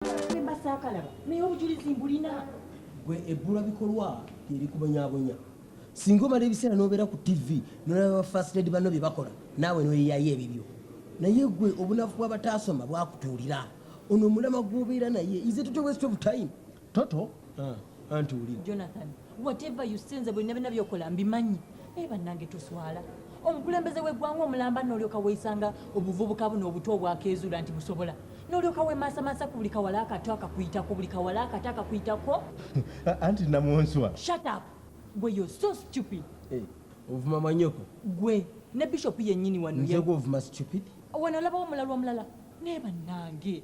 Semba saakalaba naye obujulizi mbulina. Gwe ebbula bikolwa lyerikubonyabonya singa omala ebiseera n'obeera ku tv nolaba ba first lady banno bye bakola naawe noyeyayo ebibyo naye gwe obunafu bwabataasoma bwakutuulira ono omulama gw'obeera naye ize toto west of time toto ah, anti uli whatever you say nze bulina bina byokola mbimanyi naye bannange tuswala omukulembeze w'eggwanga omulamba n'olyoka weesanga obuvubuka buno obuto obwakeezuula nti busobola n'olyoka wemaasamasa ku buli kawala akato akakuyitako buli kawala akato akakuyitako anti namwonswa shut up gwe yo so stupid eh, ovuma manyoko gwe ne bishop yennyini wano nze gwovuma stupid wano olabawo omulalu omulala naye bannange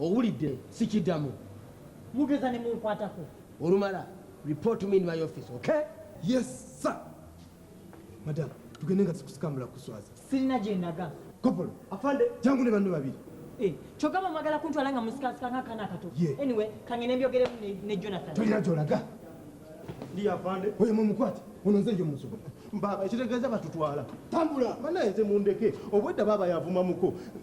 Owulidde sikidamu. Mugeza ne munkwatako. Olumala report me in my office, okay? Yes sir. Madam, tugende nga sikusikambula kuswaza. Sirina gye ndaga. Kopolo. Afande. Jangu ne banno babiri. Eh, kyogamba mwagala kuntwala nga musikasika ng'akaana akato. Yeah. Anyway, kangende mbyogeremu ne, ne Jonathan. Tolina gy'olaga. Ndi afande. Oyo mumukwate. Ono nze nje musobo. Baba, ekitegeeza batutwala. Tambula. Banaye nze mundeke. Obwedda baba yavuma muko.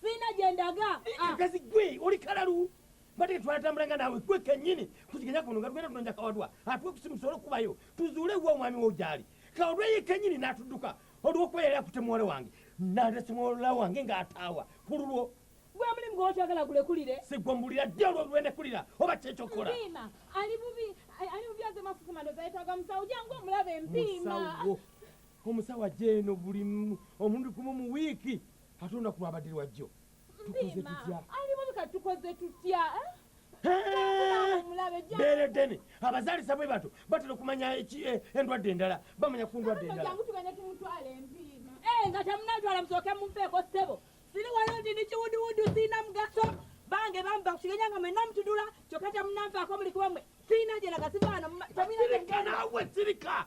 sirina gye ndaga akazi ah. gwe oli kalalu mbadde twatambula nga naawe gwe kennyini kuziganya kuno nga tugenda tunonja kawadwa atuwe kusimu tusobole okubayo tuzuule wa omwami wo gyali kawadwa ye kennyini n'atudduka olw'okuba yali akute muwala wange nalese muwala wange ng'ataawa ku lulwo gwe omulimu gwokyagala gulekulire sigwembulira ddi olwolwenekulira oba kyekyokola mpiima ali bubi ali bubi aze mafufu mandoza yetaga musawo jangu omulabe mpiima omusawo ajeeno buli omundi gumu mu wiiki ate olunaku lwabadde lwajjo tukoze tutya alimuka tukoze tutya beere ddene abazaalisa bwe bato batera okumanya eh, endwadde endala bamanya ku ndwadde eh, nga temunatwala musooke mumpeeko ssebo siri wano nti ndi kiwuduwudu sirina mugaso bange bamba kukigenya nga mwena mutudula kyokka temunanfaako muli kuba mwe sirina gyeraga sivaano sirika naawe sirika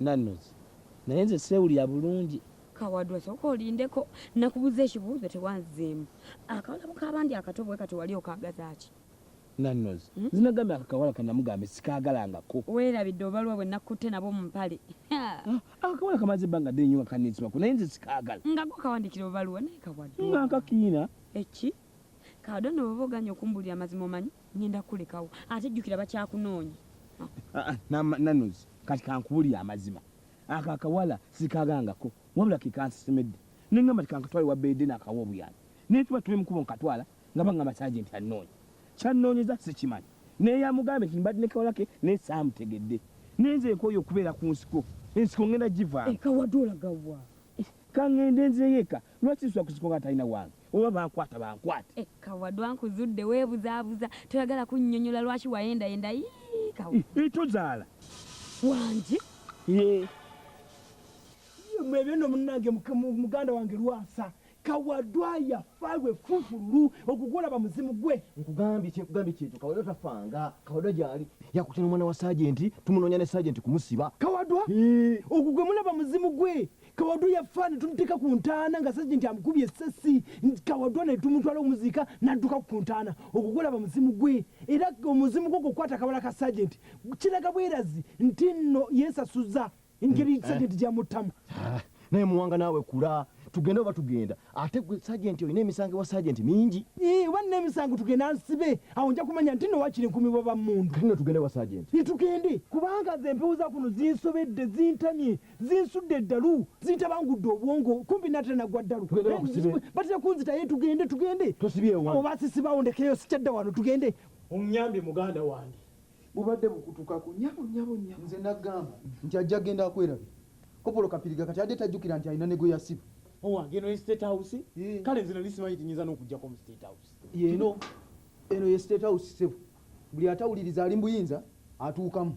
Nannoz naye nze sewulira bulungi. Kawadwa soka olindeko nakubuza ekibuuzo tewanzemu akawala bukabandi akato bwekati wali okagazaaki. Nannoz hmm? zinagambye ako kawala kanamugambye sikaagalangako. Werabidde obalwa bwe nakkutte nabo mu mpale. Ah, ako kawala kamaze ebbanga ddene nyo nga kanitsibako naye nze sikaagala. Nga gwo kawandikira obaluwa naye kawadwa. Nga nkakiina. Eki? Kawadwa no bwoba oganye okumbulira amazima omanyi ngenda kulekawo ate jjukira bakyakunoonya ah, ah, nanuzi kati kankubulira amazima ako akawala sikagangako wabula kekansisimedde nengamba tikankatwale wabeede nakawa obuyambi naye tuba tube mukubo nkatwala nga banga masaje nti anoonya kyanoonyeza sikimanyi naye yamugambye nti mbadde nekawalake naye saamutegedde naye nze nkoyo okubeera ku nsiko ensiko ngenda givaamu eh, kawadde olagawa eh, kangende nzeyo eka Lwaki nsula ku kiko nga talina wange? Oba bankwata bankwate. Eh, kawadwa nkuzudde webuzabuza toyagala kunyonyola lwaki wayendayenda yii kawa. Eh, eh, tozaala. Wangi. Yee. Mwebyo no munange muganda wange lwasa kawadwa yafa lwe fufululu okukulaba muzimu gwe nkugambye kyekugambye kyekyo kawadwa tafanga kawadwa gyali yakutya nomwana wa sajenti tumunoonya ne sajenti kumusiba kawadwa ogugwe mulaba muzimu gwe kawadwa yafa netumuteeka ku ntaana nga sajenti amukubye essasi kawadwa netumutwala omuziika nadduka ku ntaana ogwo gulaba muzimu gwe era omuzimu gwo gukwata kabala ka sajenti kiraga bwerazi nti nno yesasuza engeri mm, eh. sajenti gyamuttamu ah, naye muwanga naawe kula tugenda oba tugenda ate gwe sajenti olina emisango ewa sajenti mingi oba nina emisango tugenda nsibe awo nja kumanya nti no wakiri nkumi bwa bamundu tino tugende wa sajenti tugende kubanga zempewo za kuno zinsobedde zintamye zinsudde eddalu zintabangudde obwongo kumpi natera nagwa ddalu batera kunzitaye tugende tugende oba sisibawo ndekeyo sikyadda wano tugende omuyambye muganda wange bubadde bukutukako nyabo nyabo nyabo nze nagamba nti ajja genda akwerabe kopolo kapiriga kati adde tajjukira nti alina ne gwe yasiba owange eno ye state house eh. kale nze nali simanyi tinyinza n'okujjako mu state house yeno eno ye state house sebo buli atawuliriza ali mbuyinza atuukamu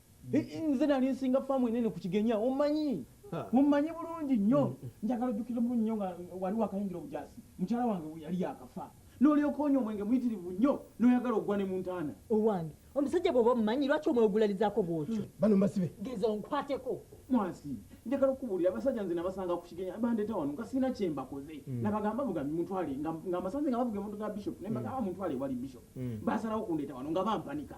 nze nali nsinga faamu enene ku kigenya omanyi mumanyi bulungi nnyo mm. njagala ojjukira mulu nnyo nga wali wakayingira obujasi mukyala wange yali yakafa nolyoka onywa omwenge muyitirivu nnyo noyagala ogwa ne mu ntaana owange omusajja bwoba omumanyi lwaki omwegulalizaako bwotyo mm. bano mbasibe geza onkwateko mwasi njagala okubuulira abasajja nze nabasanga ku kigenya bandeeta wano nga sirina kye mbakoze mm. nabagamba bugambi muntwale nga mbasanze nga bavuga emotoka ya bishop naye mbagamba muntwale ewali bishop basalawo kundeeta wano nga bampanika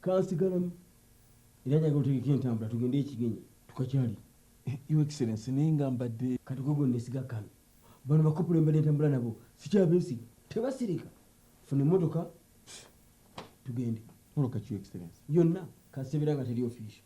kansigalamu era njaga otegeka entambula tugende ekigenyi tukakyali eh, your excellence naye nga mbadde kati gwe gwendesiga kano bano bakopula embadde entambula nabo sikyabeesiga tebasirika funa emotoka tugende yonna kasebera nga teri official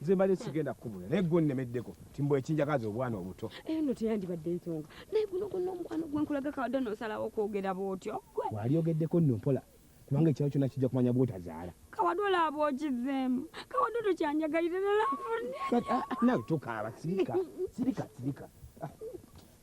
nze mbadde sigenda kukubula naye gwe onnemeddeko timbu ekinjagaza obwana obuto eyo no teyandibadde ensonga naye guno gonna omukwano gwe nkulaga kawadde nosalawo okwogera bwotyo walyogeddeko nno mpola kubanga ekyalo kyona kijja kumanya bwotazaala kawadu olaaba okizeemu kawadu tokyanjagalire nalafunnawe ah, ah, tokaaba sirika sirika sirika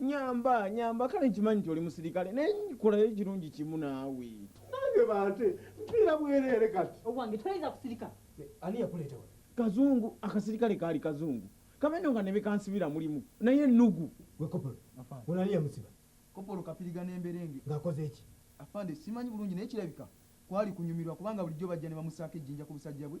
Nyamba, nyamba, kale nkimanyi nti oli musirikale naye nkolayo ekirungi kimu naawe. Nange bante mpiira bwereere kati. Owange toyinza kusirika. Ani yakuleeta wano? Kazungu, akasirikale kaali kazungu kabendo nga ne be kansibira mulimu naye ennugu. Gwe kopolo, ono ani yamusiba? Kopolo Kapiriga ne Mberenge. Ng'akoze ki? Afande simanyi bulungi naye kirabika kwali kunyumirwa kubanga bulijjo bajja ne bamusaako ejjinja ku busajja bwe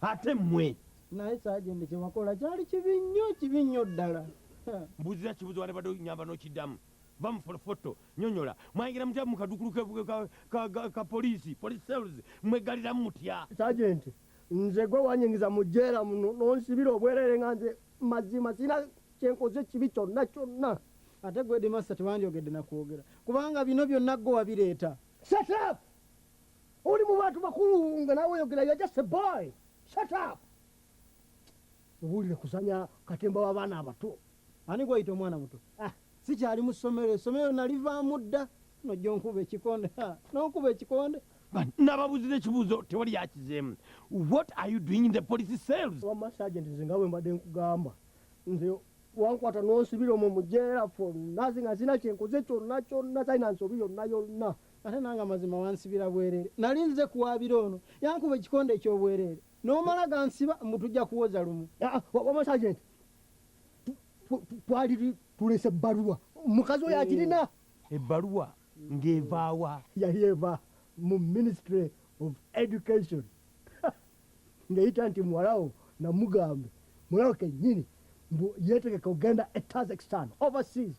ate mmwe naye sajende kyewakola kyali kibi nnyo kibi nnyo ddala mbuuzira kibuzo wale bade nyamba nokiddamu bamufotofoto nyonyola mwayingira mutya mukadukulu ka poliisi police cells mwegaliramu mutya sajenti nze gwe wanyingiza mu jeera muno nonsibira obwerere nga nze mazima sirina kyenkoze kibi kyonna kyonna ate gwe edimasta tewandyogedde nakwogera kubanga bino byonna gwe wabireeta shatap oli mu bantu bakulu nga nawe oyogera yajase boy shatap Mubuulire kusanya katemba w'abaana abato. Ani gw'oyita omwana muto? Ah, sikyali mu ssomero, essomero nalivaamu dda. Nojja onkuba ekikonde, n'onkuba ekikonde. Nababuuzi n'ekibuuzo tewali yakizeemu. What are you doing in the police cells? Wamma sergeant, nze nga bwe mbadde nkugamba nze wankwata n'onsibira omwo mu jeera for nothing nga sirina kye nkoze kyonna kyonna talina nsobi yonna yonna. Ate nange amazima wansibira bwereere. Nali nzize kuwaabira ono, yankuba ekikonde eky'obwereere. nomala gansiba mbu tujja kuwoza lumu ah, wama sergeant twali tulese ebbaluwa mukazi oyo agirina oh. ebbaluwa ng'evaawa yali eva mu ministry of education ng'eyita nti muwalawo namugambe muwalawo kennyini mbu yeetegeka okugenda e tazakstan overseas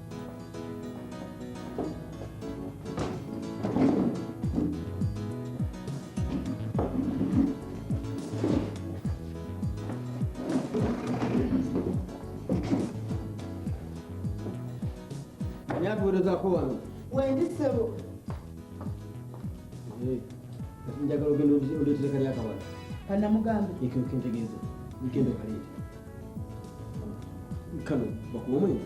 nyakuwerezako wano wendi ssebo Eh, kati njagala ogenda oleetere kali akabala kanamugambe ekentegeeza ekendo kaleeta kano bakuwa omwenge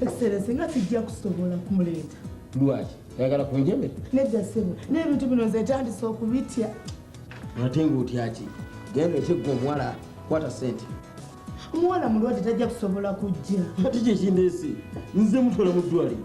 essere singa sijja kusobola kumuleeta lwaki ayagala kunjeme nedda ssebo n'ebintu bino nze etandise okubitya ate ngaotyaki genda ekyegga omuwala kwata sente omuwala mulwadde tajja kusobola kujja ati kyekindeese nze mutwala mu ddwaliro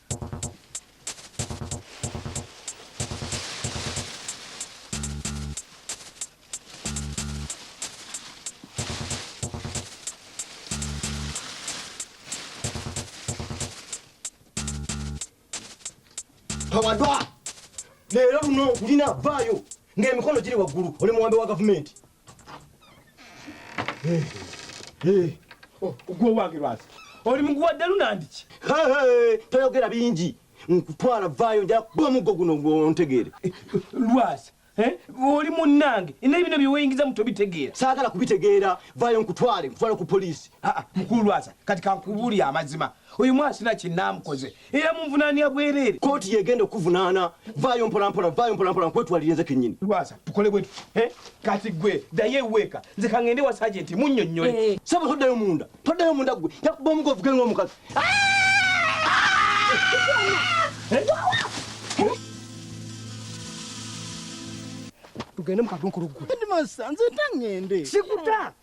awadwa leero luno gulina vaayo ng'emikono giri waggulu oli muwambe wa gavumenti ogwo wange lwazi oli muguwa ddalu nandiki toyogera bingi nkutwala vaayo nja kuba muggo guno ontegeere eh, lwazi eh, oli munnange naye bino byeweyingiza mu tobitegeera saagala kubitegeera vaayo nkutwale nkutwale ku poliisi ah, ah, mukulu lwaza kati kankubuli amazima oyo mwasina kinaamukoze Eyamunvunaania bwereere kkooti y'egenda okukuvunaana. Vvaayo mpolampola, vvaayo mpolampola nkwetwalire nze kennyini. Lwasa, tukole bwe tuti, eh? Kati ggwe ddayo eweeka, nze ka ng'ende ewa saajenti munnyonnyole. Eh. Ssebo toddayo munda, toddayo munda ggwe. Nja kukuba omugo ovuge ng'omukazi. Tugende mu kadunkulu ggwe. Headmaster, nze nta ng'ende. Sikuta!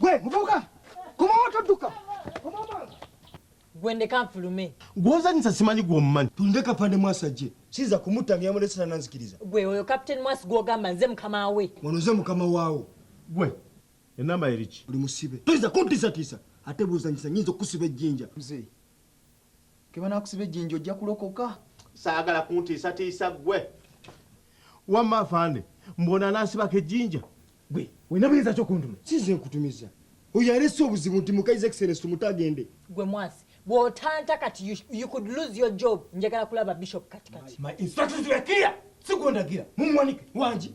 gwe muvubuka komawo todduka gwe ndeka nfulume gwozanyisa simanyi gwomumanyi tulinde kapande mwasi ajje siza kumutta ngeyamulesera nanzikiriza gwe oyo captain mwasi gwogamba nze mukama we ono nze mukama waawo gwe enamba eriki oli musibe toyinza kuntiisatiisa ate bwozanyisa nyinza okukusiba ejjinja mzee kebanakusiba ejjinja ojja kulokoka saagala kuntiisatiisa ggwe wamma afaande mbona anansibako ejjinja gwe olina buyinza ki okuntuma sinze nkutumiza oyo alese obuzibu nti mukaiza excellence tumuta agende gwe mwasi bwotanta kati you, you could lose your job njagala kulaba bishop katikati my instructions were clear sigondagira mumuwanike wangi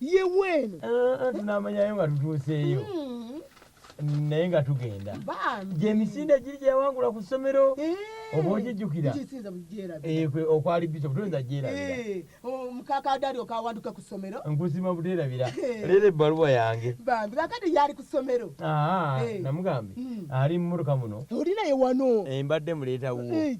ye weeno eh, eh, tunamanyayo nga tutuuseeyo hmm. naye nga tugenda gyemisinde giri gyeyawangula ku ssomero eh. oba ogijjukira okwali bishop toyinza gyerabiraomukakadario oh, kawanduke ku ssomero nkusima buterabira leero ebbaluwa yange bambi kakati yali ku ssomero ah, namugambye hmm. ali mu mumotoka muno oli naye wano mbadde muleetawo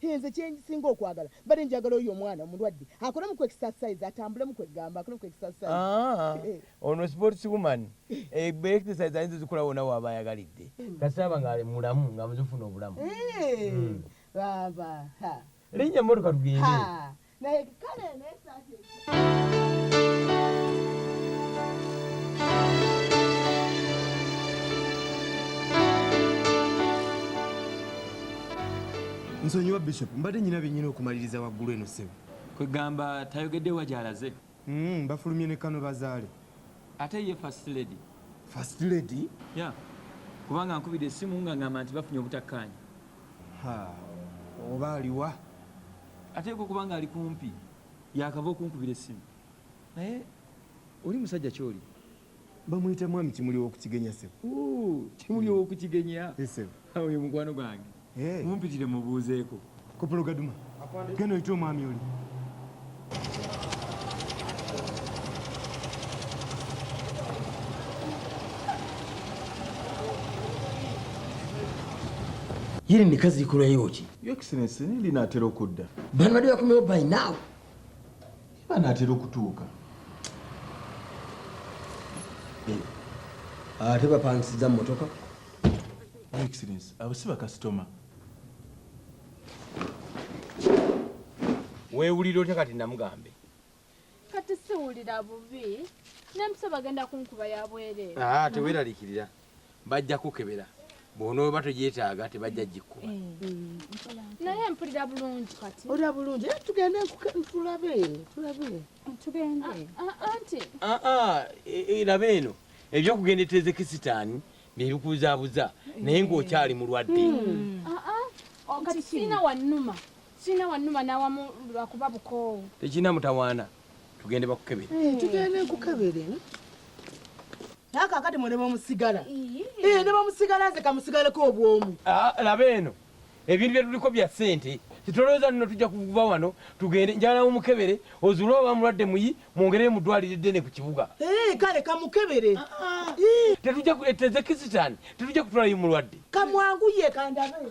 Hee nze kyenjisinga okwagala bade njagala oyo omwana omulwadde akolemu ku exercise atambulemu kwegamba akolemu ku exercise ah, eh. ono sports woman eh, be exercise ayinza zikola wona waba ayagalidde hmm. kasaba nga ali mulamu nga muzifuna obulamu eh, hmm. baba linnya mmotoka tugende naye kale eno esaati nsonyiwa bishop mbadde nyina byenyina okumaliriza waggulu eno ssebo kwegamba tayogedde wa gyalaze Mm, bafulumye ne kano bazaale. Ate ye first lady. First lady? Yeah. Kubanga nkubide esimu nga ngamba nti bafunye obutakkaanya. Ha. Oba aliwa? Ate ko kubanga ali kumpi. Yakava okunkubira esimu. Naye oli musajja kyoli. bamuyita mwami kimuli wokukigenya sebo kimuli wokukigenya oyo mukwano gwange mumpitire mubuuzeeko kopolo gaduma genda oyite omwami oli yiri mikazi ikulayoki yo excellence linaatera okudda bano badde bakomewo by now banaatera okutuuka eh, ate bapangisiza mumotoka excellence abo si bakasitoma weewulira otya kati namugambe kati siwulira bubi nemusaba agenda kunkuba yabwereere ah, teweralikirira bajja kukebera bwonooba togyetaaga tebajja gikkuba mm. naye mpulira bulungi kati olira bulungi eh, tugende tulabe tulabe tugende ah, ah, ah, anti aa e, e, laba eno ebyokugenda eteeze kisitaani nebikubuzabuza naye ngaokyali mulwadde hmm. oh, kati sirina wanuma sirina wanuma nawamu lwakuba bukoowu tekirina mutawaana tugende bakukebere eh, tugende nkukebere naye kakati mwe nebamusigala eh, nebamusigala nze kamusigaleko obwomu ah, laba eno ebintu byetuliko bya sente titolowooza nno tujja kuva wano tugende njala omukebere ozuule oba mulwadde muyi mwongerere mu ddwaliro eddene ku kibuga eh, kale kamukebere ah, ah. eh. tetujja tetujja kutwalayo mulwadde kamwangu ye kandabe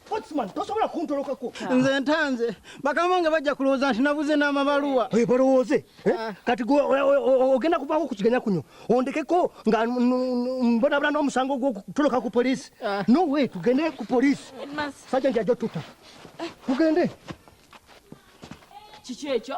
Potsman tosobola kuntolokako. Nze ntanze bakama nga bajja kulowooza nti nabuze n'amabaluwa. Hey, balowooze eh? Ah. kati gwe ogenda kuvaako ku kiganya kunyo ondekeko nga mbonabona n'omusango gw'okutoloka ku poliisi ah. no way tugende ku poliisi sajja nti ajja otuta tugende kiki ekyo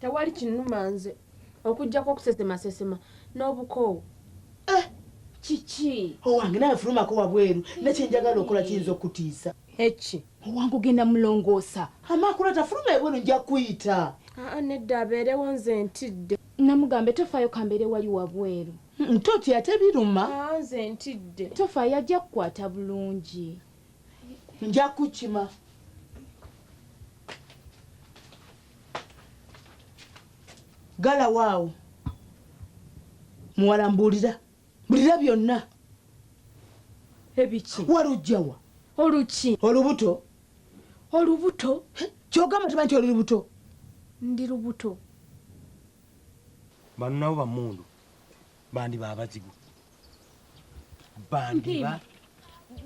tewali kinuma nze okujjako okusesemasesema n'obukoowu eh! kiki owange naye fulumako wabweru nekyenjagala okola kiyinza okutiisa eki Owange ogenda mulongoosa. Amakula tafuluma ebwelu nja kuyita. Haa nedda abeerewo nze ntidde. Namugambe tofaayo kambeere wali wabweru. Hum totya ate biluma. Haa nze ntidde. Tofaayo ajja kukwata bulungi. Nja kukima. Galawo awo muwala mbuulira. Mulira byonna. Ebiki? Walujjawa. Oluki. Olubuto. Olubuto. Kyogamba tuma nti oli lubuto. Ndi lubuto. Bano nabo bamundu bandi babazigu bandiba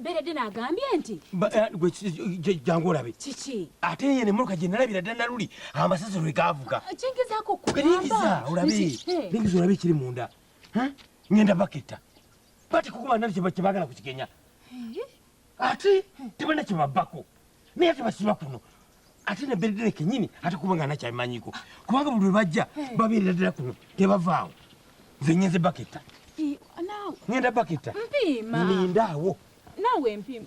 beredde nagambye nti eh, jangu olabe kiki ate ye nemotoka gye nalabira dda naluli amasasi lwe gaavuga ah, kingizaako kulingiza olabe lingiza olabe ekiri munda ngenda baketta bati kukuba nali kyebagala kukigenya ate tebalina kyebabbako naye tebasiba kuno ate neberedere kenyini ate kuba nga nakyabimanyiko kubanga buli lwebajja babeerera ddala kuno tebavaawo nze ngenze baketta ngenda baketta mpima nindaawo nawe mpima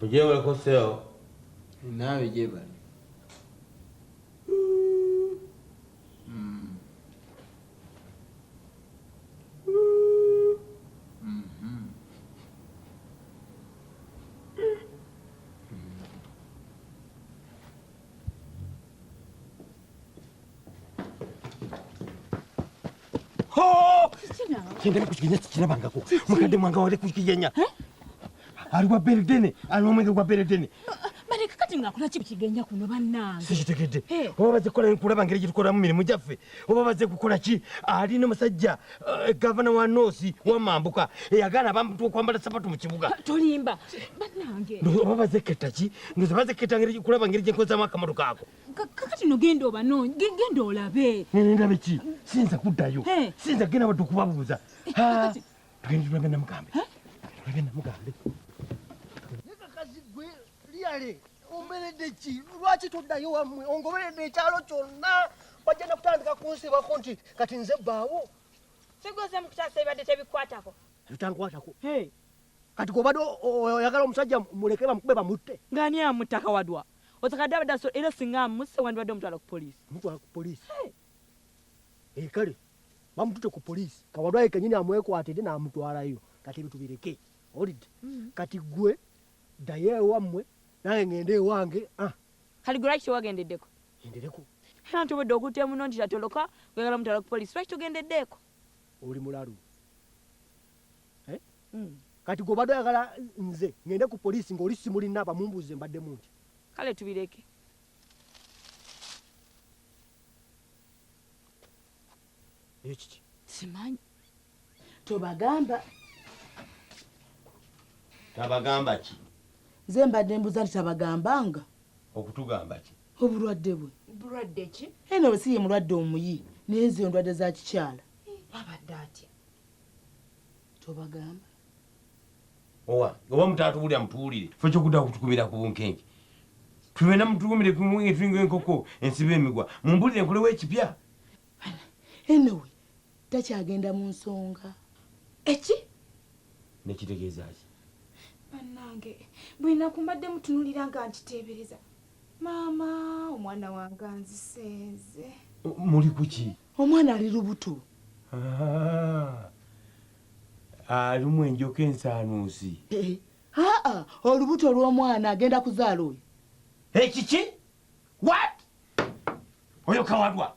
Mujeewoleko seo. Naawe gyebali. kyendali kukigenya kikirabangako mukadde mwanga wali kukigenya eh? ali wa beredene ali omwenge gwa beredene baleka kati ngakula ki kukigenya kuno bannange sikitegedde eh. oba baze kukola nkulaba ngeri gyetukolamu mirimu gyaffe oba baze kukola ki ali nomusajja eh, gavana wa noosi wamambuka eyagaana abantu okwambala sapatu mu kibuga tolimba bannange oba bazeketta ki ndoza bazeketta kulaba ngeri gyenkozamu akamalo kaako kakati no genda obanoonyi genda olabe nene ndabe ki sinza kuddayo sinza genda wadde okubabuuza tugende tulabe namugambe tulabe namugambe nekakazi gwe liyale omberedde ki lwaki toddayo wammwe ongoberedde ekyalo kyonna bajja nakutandika kunsibako nti kati nze bbaawo sigoze mukutaasa ebibadde tebikwatako bitankwatako kati gobadde oyagala omusajja muleke bamukube bamutte ngani amutta kawadwa Otakadde abadde asobola era singa amusse wandibadde omutwala ku poliisi. Omutwala ku poliisi? Ee eh, kale bamutute ku poliisi kawalwaye kenyini amwekwatidde n'amutwalayo kati ebyo tubireke olidde mm. kati gwe ddayo ewammwe nange ngende ewange ah. kati gwe lwaki tewagendeddeko endereko era nti obwedde okutte muno nti tatoloka oyagala mutwala ku poliisi lwaki togendeddeeko oli mulalu eh? mm. kati gobadde oyagala nze ngende ku poliisi ng'oli simulina abamumbuuze mbadde munti kale tubireke ekiki simanyi tobagamba tabagamba ki nze mbadde mbuza nti tabagambanga okutugamba ki obulwadde bwe bulwadde ki eno bwe si ye mulwadde omuyi naye nze ndwadde za kikyala babadde atya tobagamba owa oba mutaatubulira mutuwulire fe kyokuda kutukumira ku bunkenke tubena mutukumire kumunge tulinga enkoko ensiba emigwa mumbulire nkolewo ekipya enowe takyagenda mu nsonga eki nekitegeeza ki bannange buli naku mbadde mutunulira nga nkiteebereza Maama omwana wange anzisenze. Muli kuki? Omwana ali lubuto. Ah. Alumu enjoka ensaanuusi. Eh, aa ah, ah, olubuto olw'omwana agenda kuzaala oyo. Ekiki? Eh, What? Oyo kawadwa.